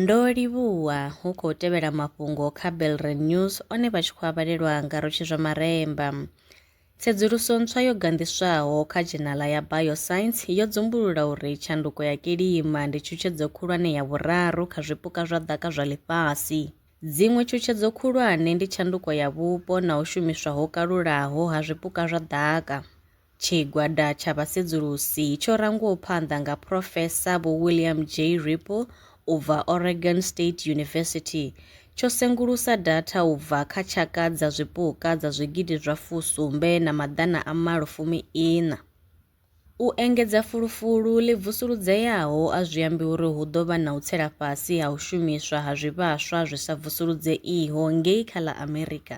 Ndo livhuwa hu khou tevhela mafhungo kha Belren News one vha tshi khou a vhalelwa nga Rotshi zwa Maremba. Tsedzuluso ntswa yo ganḓiswaho kha dzhenala ya Bioscience yo dzumbulula uri tshanduko ya kilima ndi tshutshedzo khulwane ya vhuraru kha zwipuka zwa ḓaka zwa ḽifhasi. Dziṅwe tshutshedzo khulwane ndi tshanduko ya vhupo na u shumiswa ho kalulaho ha zwipuka zwa ḓaka. Tshigwada tsha vhasedzulusi tsho rangwaho phanḓa nga Phrofesa Vho William J. Ripple u bva Oregon State University tsho sengulusa datha u bva kha tshaka dza zwipuka dza zwigidi zwa fusumbe na maḓana a malo fumi iṋa. U engedza fulufulu ḽi vusuludzeaho a zwi ambi uri hu ḓo vha na u tsela fhasi ha u shumiswa ha zwivhaswa zwi sa vusuludzeiho ngei kha ḽa Amerika.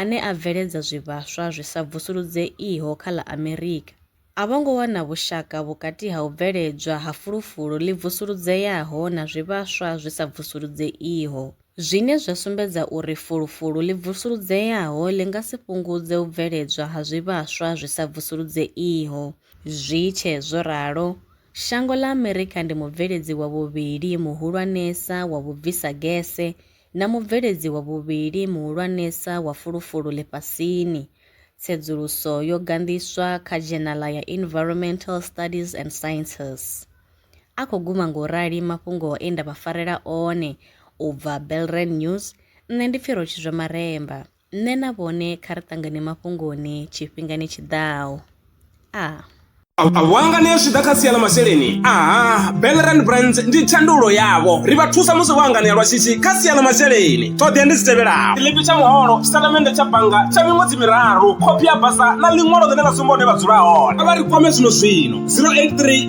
ane a bveledza zwivhaswa zwi sa vusuludzeiho kha ḽa Amerika, a vho ngo wana vhushaka vhukati ha u bveledzwa ha fulufulu ḽi vusuludzeaho na zwivhaswa zwi sa vusuludzeiho, zwine zwa sumbedza uri fulufulu ḽi vusuludzeaho ḽi nga si fhungudze u bveledzwa ha zwivhaswa zwi sa vusuludzeiho. Zwi tshe zwo ralo, shango ḽa Amerika ndi mubveledzi wa vhuvhili muhulwanesa wa vhubvisagese na mubveledzi wa vhuvhili muhulwanesa wa fulufulu ḽifhasini. Tsedzuluso yo ganḓiswa kha dzhenala ya Environmental Studies and Sciences. A khou guma nga u rali mafhungo e nda vha farela one u bva Belren News, nṋe ndi Pfirotshizwa Maremba. Nṋe na vhone kha ri ṱangane mafhungoni tshifhingani tshi ḓaho. A. Vhuanganea zwi ḓa kha sia ḽa masheleni aha Belrand Brands ndi thandululo yavho ri vha thusa musi vho anganea lwa shishi kha sia ḽa masheleni ṱhoḓea ndi dzi tevhelaho tshiḽipi tsha muholo tshitatamennde tsha bannga tsha miṅwedzi miraru khophi ya basa na ḽiṅwalo ḽine ḽa sumba hune vha dzula hone vha ri kwame zwino zwino 083